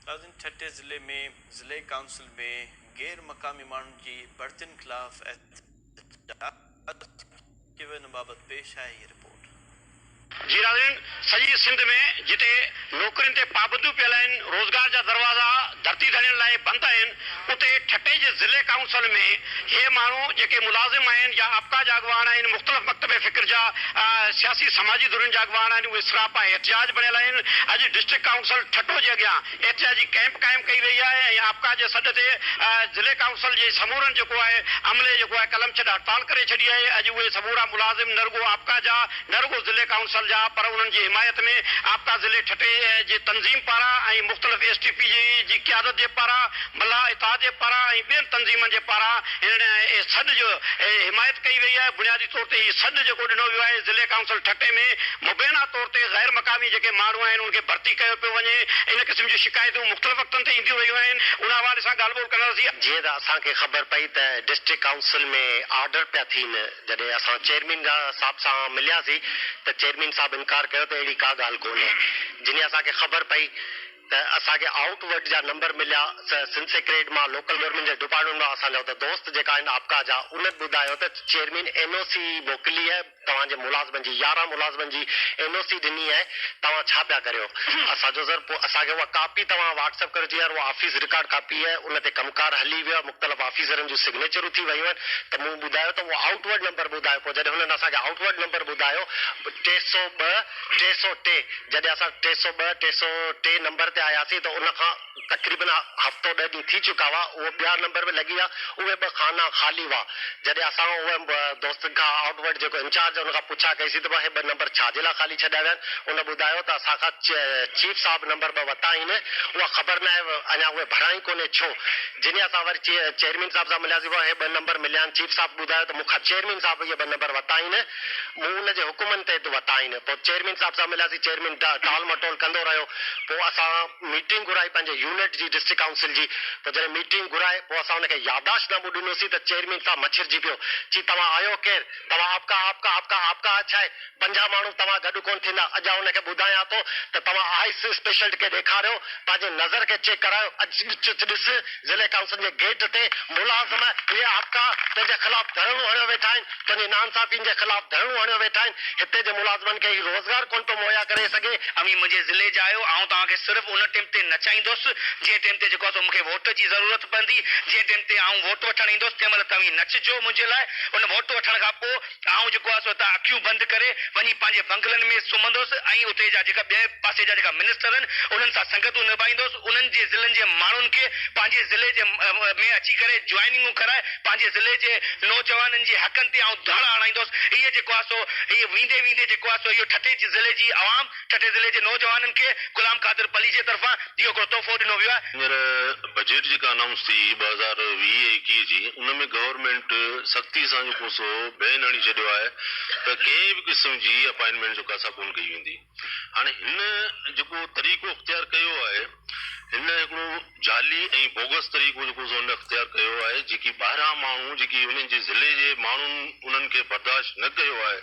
تازن ٺٽي ضلعي ۾ ضلعي ڪائونسل ۾ غير مقامي ماڻهن جي ڀرتين خلاف احتجاج، ڪيو ويندو بابت پيش آهي هي رپورٽ. جي ناظرين سڄي سنڌ ۾ جتي نوڪرين تي پابنديون پيل آهن روزگار جا دروازا ڌرتي ڌڻين لاء بند آهن اتي ٺٽي جي ضلعي ڪائونسل ۾ اهي ماڻهو جيڪي ملازم آهن يا آپڪا جا اڳواڻ آهن، مختلف مڪتب فڪر جا سياسي سماجي ڌرين جا اڳواڻ آهن، اهي سراپا احتجاج بڻيل آهن. اڄ ڊسٽرڪٽ ڪائونسل ٺٽو جي اڳيان احتجاجي ڪئمپ قائم ڪئي وئي آهي ۽ آپڪا جي سڏ تي ضلعي ڪائونسل جي سمورن جيڪو آهي عملي جيڪو آهي قلم ڇڏ هڙتال ڪري ڇڏي آهي. اڄ اهي سمورا ملازم نه رڳو آپڪا جا نه رڳو ضلعي ڪائونسل جا پر انهن جي حمايت ۾ آپڪا ضلعي ٺٽي جي تنظيم پاران ۽ مختلف ايس ٽي پي جي جي قيادت جي پاران، ملاح اتحاد جي پاران ۽ ٻين تنظيمن جي پاران هن سڏ جو حمايت ڪئي وئي آهي. بنيادي طور تي هي سڏ جيڪو ڏنو ويو آهي ضلعي ڪائونسل ٺٽي ۾ مبينا طور تي غير مقامي جيڪي ماڻهو آهن ان کي ڀرتي ڪيو پيو وڃي ان قسم جون شڪايتون مختلف وقتن تي اينديون رهيون آهن ان حوالي سان ڳالهه ٻولهه ڪنداسين. جيئن ته اسان کي خبر پئي ته ڊسٽرڪٽ ڪائونسل ۾ آرڊر پيا ٿين. جڏهن اسان چيئرمين صاحب سان ملياسين ته چيئرمين صاحب انڪار ڪيو ته اهڙي ڪا ڳالهه ڪونهي. جنهن اسان کي خبر پئي ته اسان کي آئوٽ ورڊ جا نمبر مليا سا سنڌ سيڪريٽ مان لوڪل گورنمينٽ جي ڊپارٽمينٽ مان اسان جا اتي دوست جيڪا آهن آپڪا جا انهن ٻڌايو ته چيئرمين اين او سي موڪلي آهي توهان جي ملازمن جي يارهن ملازمن جي اين او سي ڏني آهي توهان ڇا پيا ڪريو اسان چيو سر پوء اسان کي اها ڪاپي توهان واٽس اپ ڪريو چيو يار اها آفيس رڪارڊ ڪاپي آهي ان تي ڪم ڪار هلي ويو آهي مختلف آفيسرن جون سگنيچر اٿي ويون آهن ته مون ٻڌايو ته اهو آئوٽ ورڊ نمبر ٻڌايو پوء جڏهن هنن اسان کي آئوٽ ورڊ نمبر ٻڌايو ٽي سؤ ٻه ٽي سؤ ٽي جڏهن اسان ٽي سؤ ٻه ٽي سؤ ٽي نمبر تي آياسين ته ان کان تقريبن هفتو ڏهه ڏينهن ٿي چڪا هئا اهو ٻيا نمبر به لڳي ويا اهي ٻه خانا خالي هئا جڏهن اسان اهي دوستن کان آئوٽ ورڊ جيڪو انچارج هن کان پڇا ڪئي سين ته اهي ٻه نمبر ڇا جي لاء خالي ڇڏيا ويا آهن ان ٻڌايو ته اسان کان چيف صاحب نمبر ٻه وتا آهن اها خبر ناهي اڃا اهي ڀريا ئي ڪونهي ڇو جني اسان وري چيئرمين صاحب سان ملياسين وئا هي ٻه نمبر مليا آهن چيف صاحب ٻڌايو ته مون کان چيئرمين صاحب اهي ٻه نمبر ورتا آهن مون ان جي حڪمن تحت ورتا آهن پوء چيئرمين صاحب سان ملياسين چيئرمين ٽال مٽول ڪندو رهيو پوء اسان ميٽنگ گهرائي پنهنجي يونٽ جي ڊسٽرڪٽ ڪائونسل جي پوء جڏهن ميٽنگ گهرائي پوء اسان ان کي ياداشت نامو ڏنوسين ته چيئرمين صاحب مڇرجي پيو چي توهان آهيو ڪير توهان آپڪا آپڪا آپڪا آپڪا آڇائي پنجاهه ماڻهو توهان گڏ ڪونه ٿيندا. اڄ آء هن کي ٻڌايان ٿو ته توهان آئس اسپيشلٽ کي ڏيکاريو، پنهنجي نظر کي چيڪ ڪرايو، اڄ ڏچ ڏس، ضلعي ڪائونسل جي گيٽ تي ملازم اهي هاڪا تنهنجي خلاف ڌرڻو هڻيو ويٺا آهن، تنهنجي ناانصافين جي خلاف ڌرڻو هڻيو ويٺا آهن، هتي جي ملازمن کي هي روزگار ڪونه پيو مهيا ڪري سگهي. اوهين منهنجي ضلعي جا آهيو، آئون توهان کي صرف ان ٽيم تي نچائيندس، جنهن ٽيم تي جيڪو آهي سو مون کي ووٽ جي ضرورت پوندي، جنهن ٽيم تي آئون ووٽ وٺڻ ايندس، تنهن مهل توهين نچجو منهنجي لاء، ان ووٽ وٺڻ کان پوء. آئون جيڪو آهي سو هتان اکيون بند ڪري وڃي پنهنجي بنگلن ۾ سمهندوس ۽ اتي جا جيڪا ٻئي پاسي جا جيڪا منسٽر آهن انهن سان سنگتون نڀائيندوس انهن جي ضلعن جي ماڻهن کي پنهنجي ضلعي جي ۾ اچي ڪري جوائننگون ڪرائي پنهنجي ضلعي جي نوجوانن جي حقن تي آئون ڌڙ آڻائيندوس هيء جيڪو آهي سو هيء ويندي ويندي جيڪو آهي سو اهو ٺٽي جي ضلعي جي عوام ٺٽي ضلعي جي نوجوانن کي غلام قادر پليجي طرفان اهو هڪڙو تحفو ڏنو ويو آهي. هينئر بجيٽ جيڪا انائونس ٿي ٻه هزار ويهه ايڪيهه جي ان ۾ گورنمينٽ سختي سان جيڪو سو بين هڻي ڇڏيو آهي ته ڪنهن به قسم جي اپائنٽمينٽ جيڪو آهي سا ڪونه ڪئي ويندي هاڻي هن جيڪو طريقو اختيار ڪيو آهي. هن هڪڙو جعلي ۽ بوگس طريقو جيڪو سو هن اختيار ڪيو آهي جيڪي ٻاهران ماڻهو جيڪي هنن جي ضلعي جي ماڻهن انهن کي برداشت نه ڪيو آهي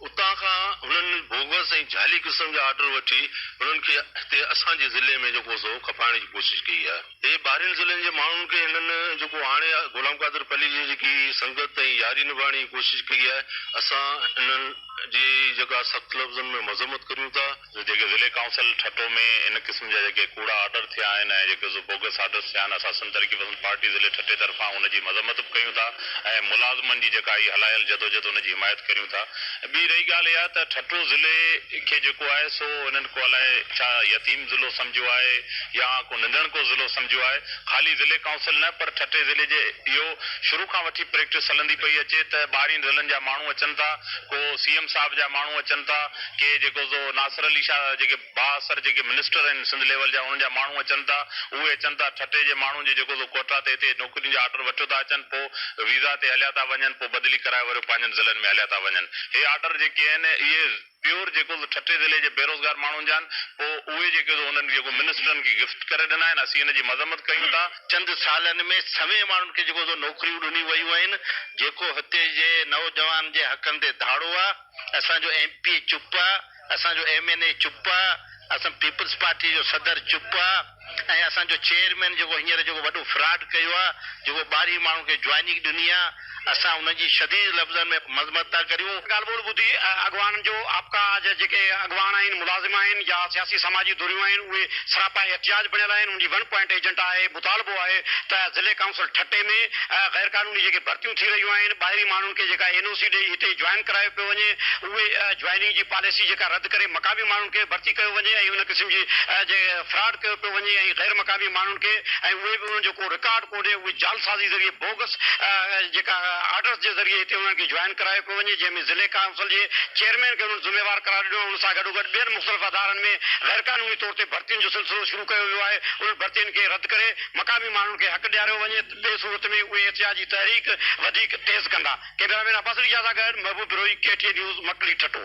اتان کان هنن بوگس ۽ جعلي قسم جا آرڊر وٺي هنن کي هتي اسان جي ضلعي ۾ جيڪو سو کپائڻ جي ڪوشش ڪئي آهي اهي ٻاهرين ضلعن جي ماڻهن کي هنن جيڪو آڻي غلام قادر پليجي جي جيڪي سنگت ۽ ياري نڀائڻ جي ڪوشش ڪئي آهي اسان انهن جي جيڪا سخت لفظن ۾ مذمت ڪريون ٿا. جيڪي ضلعي ڪائونسل ٺٽو ۾ ان قسم جا جيڪي ڪوڙا آرڊر ٿيا آهن ۽ جيڪي سو بوگس آرڊرس ٿيا آهن اسان سنڌ ترقي پسند پارٽي ضلعي ٺٽي طرفان ان جي مذمت به ڪيون ٿا ۽ ملازمن جي جيڪا هي هلايل جدوجهد ان جي حمايت ڪريون ٿا ۽ ٻي رهي ڳالهه اها ته ٺٽو ضلعي کي جيڪو آهي سو انهن ڪو الائي ڇا يتيم ضلعو سمجهيو آهي يا ڪو ننڍڻڪو ضلعو سمجهيو آهي خالي ضلعي ڪائونسل نه پر ٺٽي ضلعي جي اهو شروع کان وٺي پريڪٽس هلندي پئي اچي ته ٻاهرين ضلعن جا ماڻهو اچن ٿا ڪو سي ايم صاحب جا ماڻهو اچن ٿا. ڪي جيڪو سو ناصر علي شاهه جيڪي با اثر جيڪي منسٽر آهن سنڌ ليول جا انهن جا ماڻهو اچن ٿا اهي اچن ٿا ٺٽي جي ماڻهن جي جيڪو سو ڪوئٽا تي هتي نوڪرين جا آرڊر وٺيو ٿا اچن پو ويزا تي هليا ٿا وڃن پو بدلي ڪرائي وريو پنهنجن ضلعن ۾ هليا ٿا وڃن هي آرڊر جيڪي آهن اهي پيور جيڪو سو ٺٽي ضلعي جي بيروزگار ماڻهن جا آهن پو اهي جيڪي سو انهن جيڪو منسٽرن کي گفٽ ڪري ڏنا آهن اسين ان جي مذمت ڪيون ٿا. چند سالن ۾ سوين ماڻهن کي جيڪو سو نوڪريون ڏنيون ويون آهن جيڪو هتي جي نوجوانن جي حقن تي ڌاڙو آهي. اسان جو ايم پي اي چپ آ، اسان جو ايم اين اي چپ آ، اسان پيپلز پارٽي جو صدر چپ آ ۽ اسان جو چيئرمين جيڪو هينئر جيڪو وڏو فراڊ ڪيو آ، جيڪو ٻاهرين ماڻهن کي جوائننگ ڏني آ، اسان انهن جي شديد لفظن ۾ مذمت ٿا ڪريون. ڳالهه ٻولهه ٻڌي اڳواڻن جو آپڪا جا جيڪي اڳواڻ آهن، ملازم آهن يا سياسي سماجي ڌريون آهن اهي سراپا احتجاج بڻيل آهن، ان جي ون پوائنٽ ايجنڊا آهي، مطالبو آهي ته ضلعي ڪائونسل ٺٽي ۾ غيرقانوني جيڪي ڀرتيون ٿي رهيون آهن، ٻاهرين ماڻهن. ان کي جيڪا اين او سي ڏئي هتي جوائن ڪرايو پيو وڃي اهي جوائننگ جي پاليسي جيڪا رد ڪري مقامي ماڻهن کي ڀرتي ڪيو وڃي ۽ ان قسم جي جي فراڊ ڪيو پيو وڃي ۽ غير مقامي ماڻهن کي ۽ اهي به انهن جو ڪو رڪارڊ ڪونهي اهي جعلسازي ذريعي بوگس جيڪا آرڊرس جي ذريعي هتي انهن کي جوائن ڪرايو پيو وڃي جنهن ۾ ضلعي ڪائونسل جي چيئرمين کي انهن ذميوار قرار ڏنو آهي ان سان گڏوگڏ ٻين مختلف ادارن ۾ غير قانوني طور تي ڀرتين جو سلسلو شروع ڪيو ويو آهي انهن ڀرتين کي رد ڪري مقامي ماڻهن کي حق ڏياريو وڃي. ٻي صورت ۾ اهي احتجاجي تحريڪ وڌيڪ تيز ڪندا. ڪيميرا مين عباس ريجا سان گڏ Mehboob Brohi, K T N news, Makli Thatta.